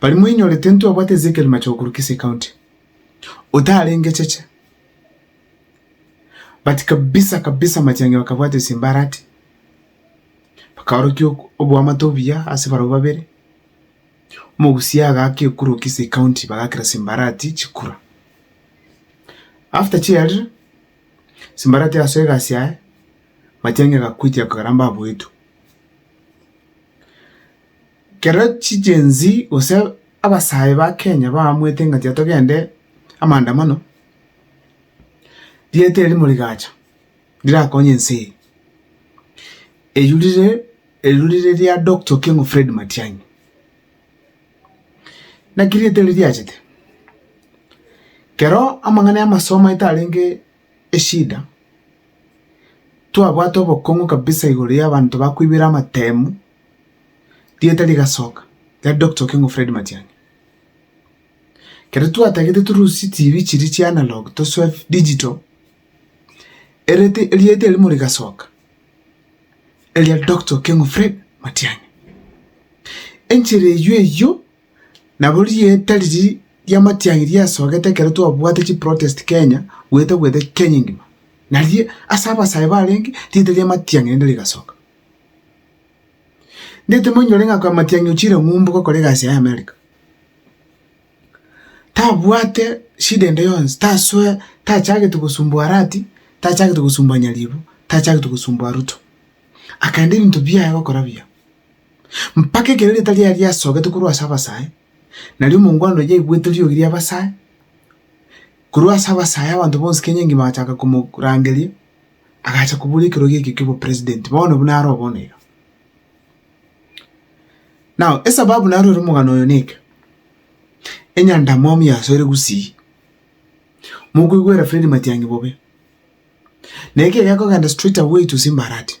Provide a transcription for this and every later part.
Baria mwainyorete intwe obwate Ezekiel Machogu korwa Kisii County, otarenge cheche. But kabisa kabisa Matiang'i bakabwata esimbarati, bakaorokia ok- oboamate obuya ase barabwo babere. Omogusia agaaka ekura o Kisii County bagaakera simbarati chikura. After chiarire, simbarati egasoa egasi yaye, Matiang'i agakutia akaramba aboetu. Kero chigensi gose abasae ba Kenya baamwete ng'a tiga togende amaandamano, rieta eri rimo rigacha rirakonye ense eye. Eyio rire, eyio rire ria Doctor Okengo Fred Matiang'i. Naki rieta eri riachete? Kero amang'ana ya amasomo aito arenge eshida, twabwate obokong'u kabisa igoro y'abanto bakoibera amatemu. Rieta rigasoka riari Doctor Okengo Fred Matiang'i. Ekero twatagete torusie TV chiria chia analog tosoe digital, erete rieta erimo rigasoka eria Doctor Okengo Fred Matiang'i. Enchera eywo eywo nabo rieta riria ria Matiang'i riasogete ekero twabwate chiprotest Kenya goeta goeta Kenya engima. Nario ase abasae barenge rieta ria Matiang'i rende rigasoka. Ndetemonyore ng'a kwa Matiang'i ochire ng'umbu gokora egasi yaye Amerika. Tabwate shida ende yonsi, tasoe, tachagete gosumbua Arati, tachagete gosumbua Nyaribo, tachagete gosumbua Ruto. Akaenda ebinto biaye gokora buya. Mpaka ekero erieta riaye riasogete korwa ase abasae, nario omongwana oyio aigwete riogi ri'abasae, korwa ase abasae abanto bonsi Kenya engima bagachaka komorangeria. agacha kobora ekerogo ekio ki'obopresident bono buna aro oboneire. Now, esababu narorire omogano oyo neke, enyandamwamu yasoire gusii, mokoigwera Fred Matiang'i bobe, na ekio gekogenda straight away to Simbarati.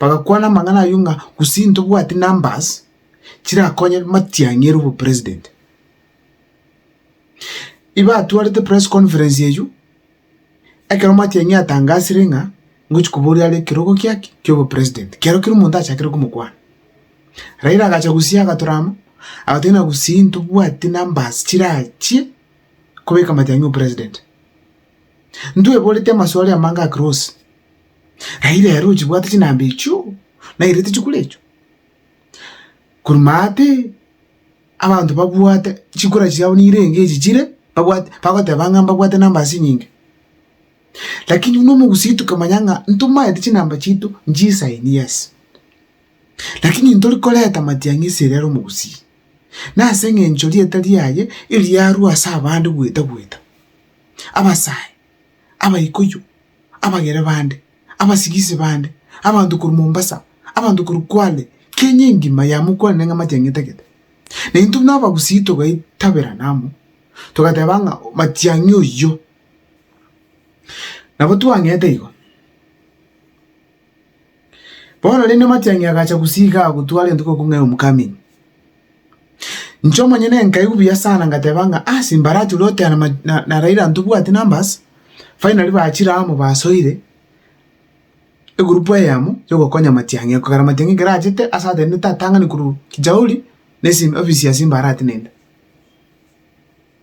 Bagakwana amang'ana ayio ng'a gose intobwati numbers chirakonye matiang'i ere obopresident. Ibatwarete press conference eyio, ekero matiang'i atangasire ng'a ngochia koboria are ekerogo kia ki? Kia obopresident. Kiagera kera omonto achakire komokwana. Raila agacha gusii agatura amo, agateba ng'a gusii ntobwati numbers chirachie kobeka matiang'i obopresident. Ntweboreti amaswali amange a Cross, aye rero ochibwate chinamba echio, nairete chikura echio. Kormate abanto babwate chikura chiabo nirenge echi chire, babwate bagoteba ng'a mbabwate namba ase enyinge. Lakini buna omogusii tokamanya ng'a ntomaeti chinamba chiaito nchisaini yes. Lakini ntori koreta matiang'i ase ere omogusii, nase eng'encho rieta riaye eriarwa ase abande gweta gweta. abasae, abaikoyo, abagere bande, abasigisi bande, abanto korwa Mombasa, abanto korwa Kwale, Kenya engima yamokwanire ng'a matiang'etagete. Na intwe buna abagusii togaitaberana amo, togateba ng'a matiang'i oyio. Nabo twang'ete igo. Bono rende omatiangi agacha gusii iga agotwa arentwe goku ng'a Homecoming. Inche omonyene nkaigwa buya sana ngateba ng'a ah Simbarati oria oteana ma na na Raila ntobwati numbers, finally bachire amo basoire, egroup eyemo ya ogokonya amatiang'i ekero amatiang'i ekero achete ase atenenete atang'ani korwa Kijauri na esi ofisi ya Simbarati nende.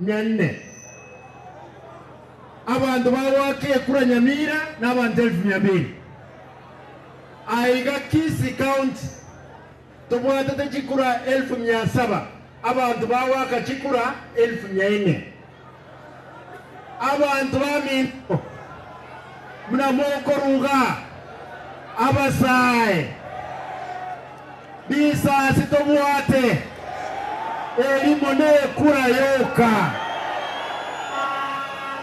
nyene. Abanto bagoaka ekura nyamira na abanto elfu mia mbiri. Aa iga Kisii County tobwatete chikura elfu mia saba, abanto bagoaka chikura elfu mia ine. Abanto baminto. buna mokoruga abasae risasi tobwate erimo nekura yoka.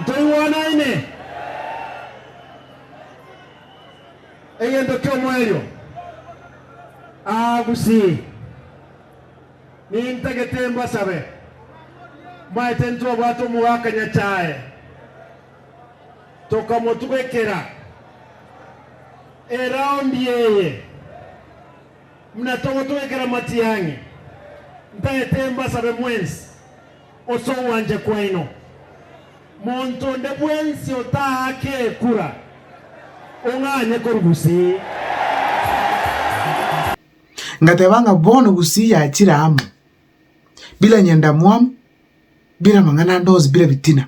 Ntoigwanaine? Egento ki'omoerio aa gusii. Nintagete mbasabe, mbaete ntwabwate omogaka Nyasae. Tokamotugekera eraundi eye, muna togotugekera matiang'i. Ntaete mbasabe mwensi ase ogwancha kwaino. Monto onde bwensi otaake ekura, ong'anye korwa gusii. Ngateba ng'a bono gusii yachire amo, bire nyendamwamu, bire amang'ana ande onsi, bire bitina.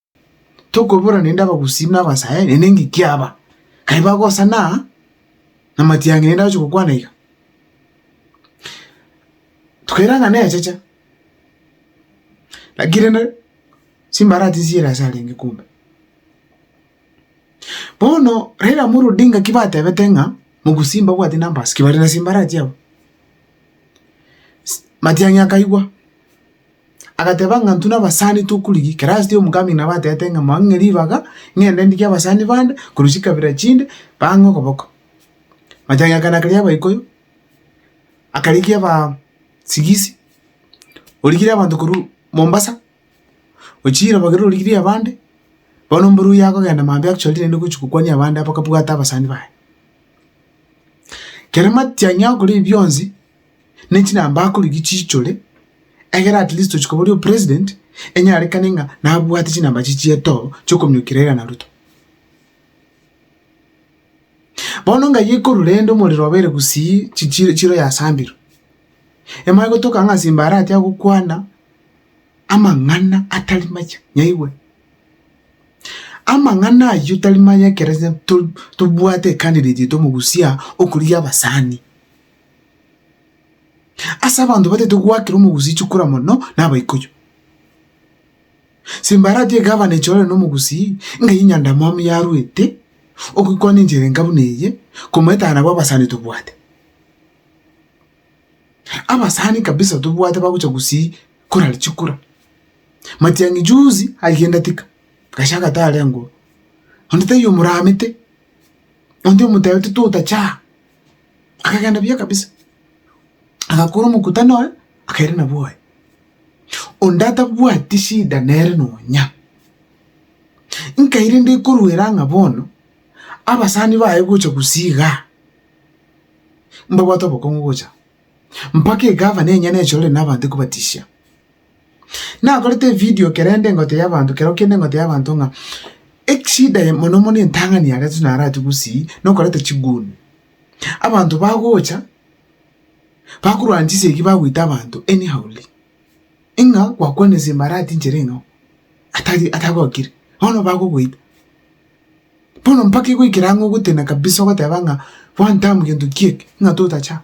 Tokobora nende abagusii na abasae, nende eng'iki aba, kai bagosana aa, na matiang'i nende agochia gokwana iga. Tokaira ng'a nechecha, laki rende chimbarati nchiire ase arenge kumbe. Bono Raila Amolo Odinga ki batebete ng'a mogusii mbabwati numbers ki bare na chimbarati abwo. Matiang'i akaigwa. Agateba ng'a intwe nabasani tokorigi, kerasti y'omogambia nabo atebete ng'a moe ng'e ribaga, ng'ende ndigie abasani bande, korwa chikabira chinde, bang'e okoboko. Machani aya kare ya abaikoyo, akarigia aba sigisi, origirie abanto korwa Mombasa, ochire nabo ekero origirie abande, bono mboro oyio akogenda mambia actually naende gochia gokwania abande abakabwate abasani baye. Kere matiang'i akore ebi bionsi. ne chinamba akorigia chiichore, egere at least ochia koba ore opresident, enyarekane ng'a nabwate chinamba chie chietoo chiokominyokia Raila na Ruto. Bono ngaiyo ekorwa rende omorero obeire gusii chi chi chiro yasambirwe, emanye gotoka ng'a Simba aratiga gokwana amang'ana atari maya, nyaigwe. Amang'ana aywo tari maya ekero to tobwate ecandidate yaito omogusia okorigia abasani. Ase abanto batagete goakera omogusii chikura mono nabaikoyo. Simbarati egavana echorere nomogusii, ng'a eyio nyandamwamu yaruete, ogoikwana enchera enka buna eye, komoetana nabo abasani tobwate. Abasani kabisa tobwate bagocha gusii korari chikura. Matiang'i juzi agenda tika, gachaka tarengwa, onde taiyo omoramete, onde omotebete totachaa. Akagenda buya kabisa, agakora omokutano oye, akairana bwoye. Onde atabwati shida nere nonya. Nkaire ndikoruera ng'a bono, abasani baye gocha gusii igaa, mbabwate obokong'u gocha mpaka egavana enyene echore na abanto ekobatishia. Nakorete evidio kerende engotio y'abanto kero kende engotio y'abanto ng'a echida eye mono mono entang'ani ya gatatũ naratwe gusii nokoreta chiguni. Abanto bagocha bakorwana chisegi bagoita abanto anyhowly, ing'a gwakwanire simbara atinchire ing'oo atari atagokire bono bagogoita. Bono mpaka egoikera ang'o ogotena kabisa ogoteba ng'a one time gento ki'eke ng'a totachama.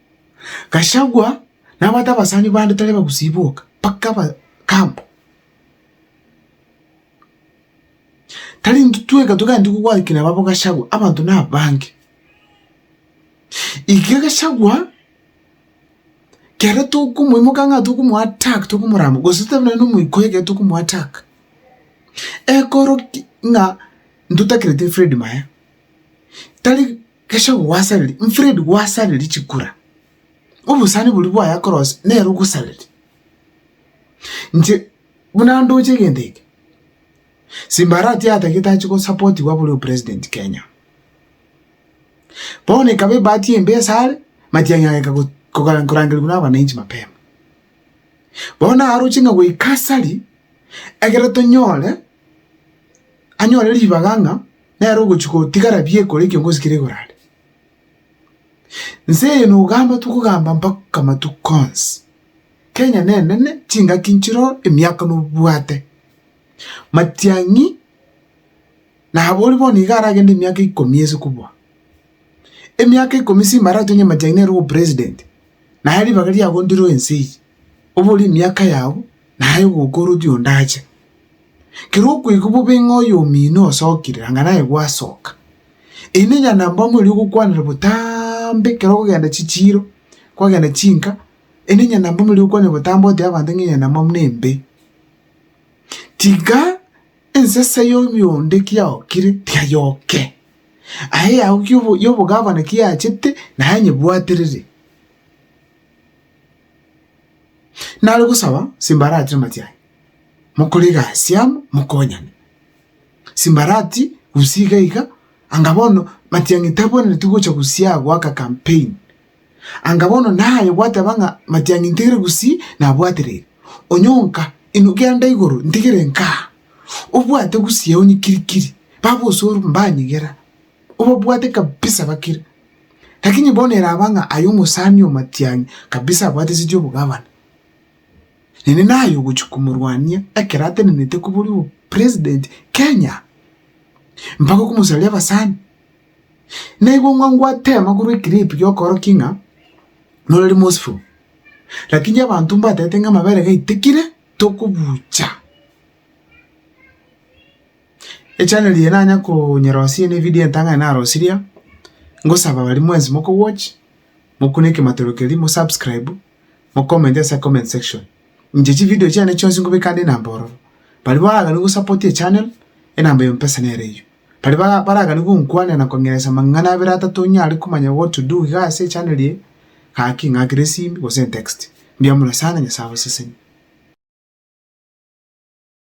Gachagua nabwate abasani bande tari abagusii boka, mpaka abakambo. Tari intwe tweka togenda kogwaki nabo aba Gachagua, abanto na abange. Iga Gachagua, kere tokomoimoka ng'a tokomo attack tokomorama, gose tobe nonye na omoika oye ekero tokomo attack, ekero ki ng'a ntotakereti Fred Maya, tari. Gachagua gwasareri, Mfred gwasareri chikura, obosani boria bwaya korose nere ogosareri. Inche buna ndoche egento eke, Simbarati atagete ache gosapotiwa abore opresident Kenya. Bono ekaba ebahati embe ase are, Matiang'i ageka go- koga- korangerigwa na abananchi mapema. Bono aroche ng'a goika asari, ekero tonyore, anyore ribaga ng'a. nere ogochia gotigara biekore ekiongozi keria igoro aria. Nse eye nogamba tokogamba mpaka matuko onsi. Kenya nenene, chingaki nchire oo, emiaka nobwate. Matiang'i nabo oria bono iga aragende emiaka ikomi ase kobua. Emiaka ikomi simaratonye matiang'i nere obopresident, naye ribaga riagondeirwe ense eye. obore emiaka yao, naye ogoka oroti onde ache. Ekero okweigwa bobe ng'a oyomino osokire, anga naye gwasoka. Eye nenyara na mbabambe oria ogokwanera botambe ekero okogenda chichiiro, kwagenda chinka, eye nenyara na mbabambe oria ogokwanera botambe otebia abanto ng'a enyara na mbabambe nembe. Tiga ensesa ya oyio onde ki yaokire tiga yoke, aye yao ki obo- ya obogavana ki yachete, naye nyebwaterere. Nare gosaba simbarati namati aye, mokore egasi amo mokonyane. Simbarati gose iga iga, anga bono matiang'i tabwenereti gocha gosii aa goaka campaign. Anga bono naye gwateba ng'a matiang'i ntigire gosii nabwatereri, onye onka inwe genda igoro ntigire nkaa, obwate gosii onye kirikiri, baba osoru mbanyigera. Obabwate kabisa bakire. Lakini bono eraba ng'a aye omosani omatianyi kabisa abwate siti obogavana, nene naye ogochia komorwania ekero atenenete kobori obo president Kenya, mpaka okomosaria abasani. Naigwe ng'a ngwatema korwa eclip giokoroki ng'a norari mosiful, lakini abanto mbatebete ng'a amabere gaitikire tokobucha. Echaneli eye nanya konyerosia ene evidio entang'ani narosirie, ngosaba baria mwensi moko watch, mokune ekematoro keria, mo subscribe, mo comment ase comment section. Inche chividio chiane chionsi ngobeka ande enamba ororo. Baria baragani gosapoti echanel, enamba ya mpesa nere eyio. Baria ba- baragani gonkwanera na kong'eresa amang'ana abere atato nyare komanya what to do iga ase echanel eye, gaki ng'akere esimi gose entext. Mbuya mono sana, Nyasae abaseseni.